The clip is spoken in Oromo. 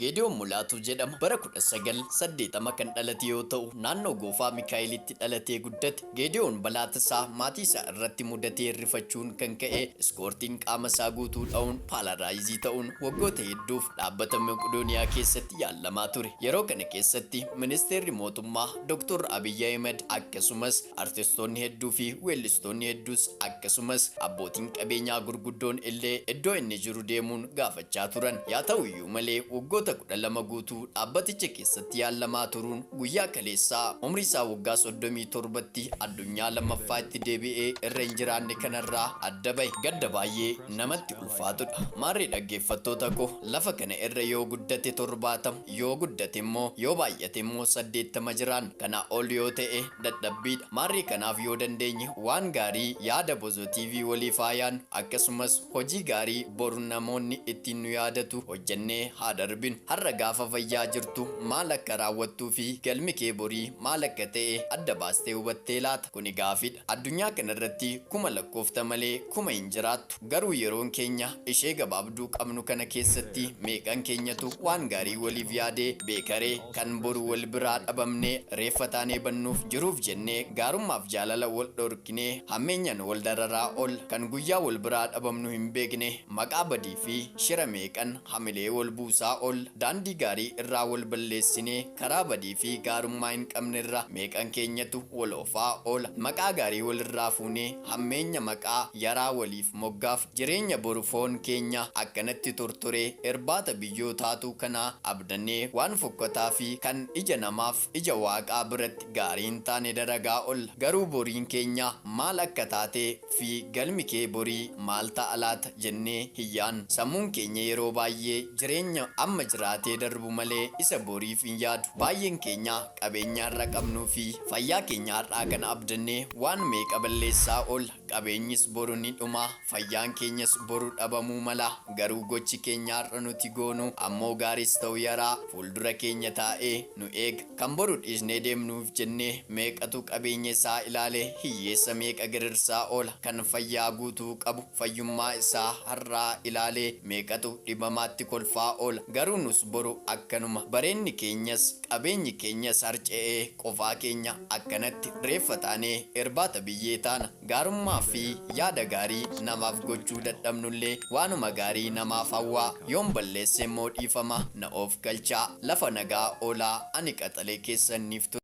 Geediyoon Mulaatuu jedhama. Bara 1980 kan dhalate yoo ta'u, naannoo Goofaa Mikaa'elitti dhalatee guddate. Geediyoon balaa tasaa maatii isaa irratti mudateen rifachuun kan ka'e iskoortiin qaama isaa guutuu dha'uun paalaaraayizii ta'uun waggoota hedduuf dhaabbata Meqdooniyaa keessatti yaallamaa ture. Yeroo kana keessatti Ministeerri Mootummaa Doktor Abiy Ahimad akkasumas artistoonni hedduu fi weellistoonni hedduus akkasumas abbootiin qabeenyaa gurguddoon illee iddoo inni jiru deemuun gaafachaa turan. Yaa ta'u iyyuu. Haata'u malee waggoota 12 guutuu dhaabbaticha keessatti yaallamaa turuun guyyaa kaleessaa umrii isaa waggaa 37tti addunyaa lammaffaa itti deebi'ee irra hin jiraanne kanarraa adda bahe gadda baay'ee namatti ulfaatudha. Maarree dhaggeeffattoota koo lafa kana irra yoo guddate 70 yoo guddate immoo yoo baay'ate immoo 80 jiraanna. Kanaa ol yoo ta'e dadhabbiidha. Maarree kanaaf yoo dandeenye waan gaarii yaada Bozo TV waliif haa yaadnu. Akkasumas. Hojii gaarii boru namoonni ittiin nu yaadatu hojjennee haa darbinu. Har'a gaafa fayyaa jirtu maal akka raawwattuu fi galmi kee borii maal akka ta'e adda baastee hubattee laata? Kuni gaafidha. Addunyaa kanarratti kuma lakkoofta malee kuma hin jiraattu. Garuu yeroon keenya ishee gabaabduu qabnu kana keessatti meeqan keenyatu waan gaarii waliif yaadee beekaree? Kan boru wal biraa dhabamnee reeffa taanee badnuuf jiruuf jennee gaarummaaf jaalala wal dhorkinee hammeenyan wal dararaa ol kan guyyaa wal biraa dhabamnu hin beekne maqaa badii fi shira meeqan hamilee wal buusaa ol daandii gaarii irraa wal balleessinee karaa badii fi gaarummaa hin qabnerra meeqan keenyatu wal ofaa oola maqaa gaarii wal irraa fuunee hammeenya maqaa yaraa waliif moggaaf Jireenya boru foon keenya akkanatti tortoree irbaata biyyoo taatuu kanaa abdannee waan fokkataa fi kan ija namaaf ija Waaqaa biratti gaarii hin taane dalagaa olla. Garuu boriin keenya maal akka taatee fi galmi kee borii maal ta'a laata jennee hin yaadnu. Sammuun keenya yeroo baay'ee jireenya amma jiraatee darbu malee isa boriif hin yaadu. Baay'een keenya qabeenya har'a qabnuu fi fayyaa keenya har'aa kana abdannee waan meeqa balleessaa oolla. Qabeenyis boru ni dhuma, fayyaan keenyas boru dhabamuu mala, garuu gochi keenya har'a nuti goonu ammoo gaariis ta'u yaraa fuuldura keenya taa'ee nu eega. Kan boru dhiisnee deemnuuf jennee meeqatu qabeenya isaa ilaale hiyyeessa meeqa girirsaa oola, kan fayyaa guutuu qabu fayyummaa isaa har'aa ilaalee meeqatu dhibamaatti kolfaa oola. Garuu nus boru akkanuma. Bareenni keenyas. Qabeenyi keenyas harca'ee qofaa keenya akkanatti reeffa taanee irbaata biyyee taana. Gaarummaa fi yaada gaarii namaaf gochuu dadhabnullee waanuma gaarii namaaf hawwaa. Yoon balleesse immoo dhiifama na oofkalchaa. Lafa nagaa oolaa ani qaxalee keessan niif ture.